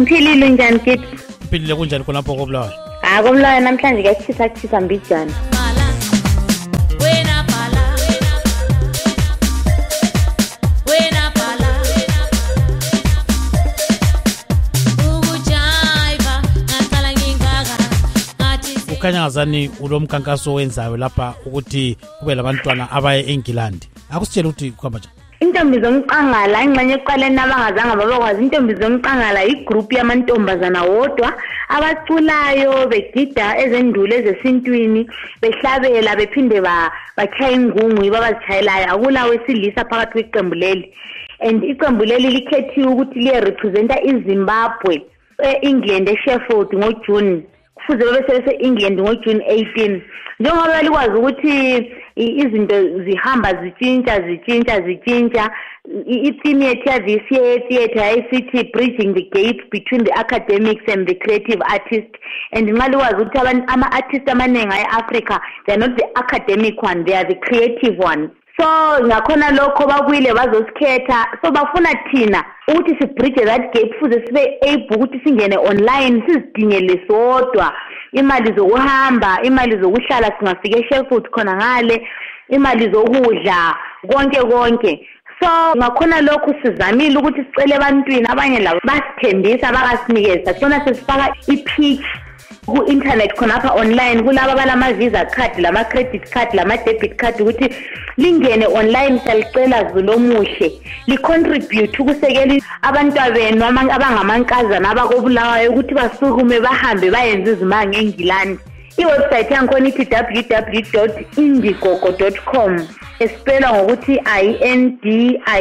ngiphilile unjani kit uphilile kunjani khonapho kobulawayo ha kobulawayo namhlanje kuyachisa kuchisa mbijana kukhanya ngazani ulo mkhankaso owenzayo lapha ukuthi kube labantwana abaye engilandi akusitshele ukuthi kuhamba njani intombi zomqangala ingxenye ekuqaleni abangazanga babakwazi intombi zomqangala yigroup yamantombazana wodwa abaculayo begida ezendulo ezesintwini behlabela bephinde batshaya ingungu yibo abazitshayelayo akula wesilisa phakathi kweqembu leli and iqembu leli likhethiwe ukuthi liyerepresenta izimbabwe e-england esheffield ngojune kufuze babe sebese-england ngojune 18 njengoba belikwazi ukuthi izinto zihamba zitshintsha zitshintsha zitshintsha i-theme yethu yavca theatre yayisithi bridging the gap between the academics and the creative artist and nxa likwazi ukuthi ama-artist amaningi aye-africa they are not the academic one they are the creative ones so ngakhona lokho bakwile bazosikhetha so bafuna thina ukuthi sibridge that gap fuze sibe able ukuthi singene online sizidingele sodwa imali zokuhamba imali zokuhlala singafika eshelford khona ngale imali zokudla konke konke so ngakhona lokhu sizamile ukuthi sicele ebantwini abanye labo basithembisa bakasinike sakhona sesifaka i-pitch ku-internet khonapha online kulaba balama-visa card lama-credit card lama-debit card ukuthi lingene online salicela zulomuhle licontribute ukusekela abantwabenu abangamankazana abakobulawayo ukuthi basukume bahambe bayenze izimanga engilandi iwebsite yangikhona ithi www indigogo com esipelwa ngokuthi i-n-d-i-e-g-o-g-o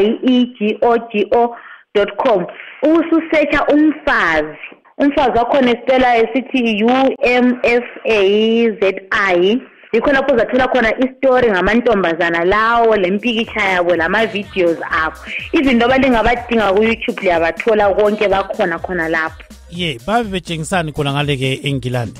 com ubususetsha umfazi umfazi wakhona esicela esithi umfazzi yikho lapho uzathola khona isitori ngamantombazana lawo lempikitsha yabo lama-videos abo izinto abalingabadinga ku-youtube liyabathola konke bakhona khona lapho ye babe betshengisani khona ngale-ke engilandi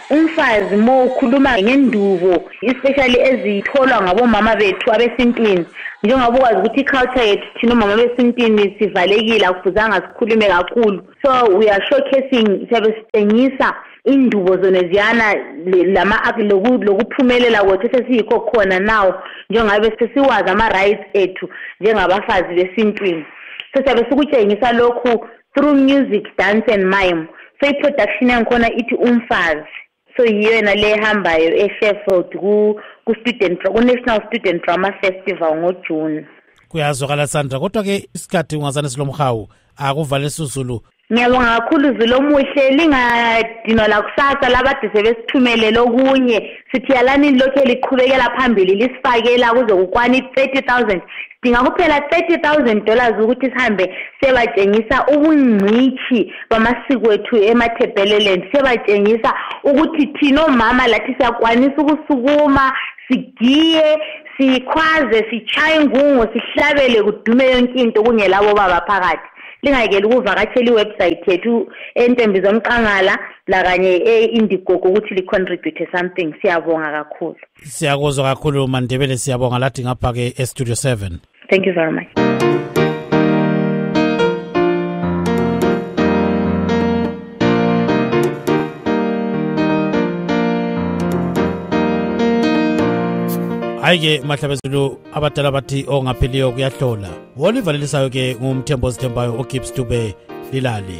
umfazi mo ukhuluma ngendubo especially ezitholwa ngabomama bethu abesintwini njengoba ukwazi ukuthi iculture yethu thina omama besintwini sivalekile akufuzanga sikhulume kakhulu so we are showcasing siyabe sitshengisa indubo zona ziyana lama lokuphumelela kwethu sesiyikho khona nawo njengabe sesiwazi ama-rights ethu njengabafazi besintwini so siyabe sikutshengisa lokhu through music dance and mime so iproduction yangikhona ithi umfazi so yiyo yona le ehambayo esheffield ku-student ku-national student drama festival ngojune kuyazwakala sandra kodwa ke isikhathi ungazane silomhawu akuvale suzulu ngiyabonga kakhulu zulu omuhle lingadinwa lakusasa labade sebesithumelele okunye sithiyalani lokhu eliqhubekela phambili lisifakela kuze kukwani i-thirty thousand sidinga kuphela 30000 dollars ukuthi sihambe sebatshengisa ubungcitshi bamasiko ethu emathebheleleni sebatshengisa ukuthi thina omama lathi siyakwanisa ukusukuma sigiye sikhwaze sitshaye ingungo sihlabele kudume yonke into kungelabo baba phakathi lingayekeli ukuvakatshela iwebsayithi yethu entembi zomqangala lakanye e-indigogo ukuthi licontribute something siyabonga kakhulu siyakuzwa kakhulu mandebele siyabonga lathi ngapha ke estudio 7 thank you very much hayi-ke mahlabezulu abadala bathi ongapheliyo kuyahlola wolivalelissayo ke ngumthembo ozithembayo ugibbs dube lilali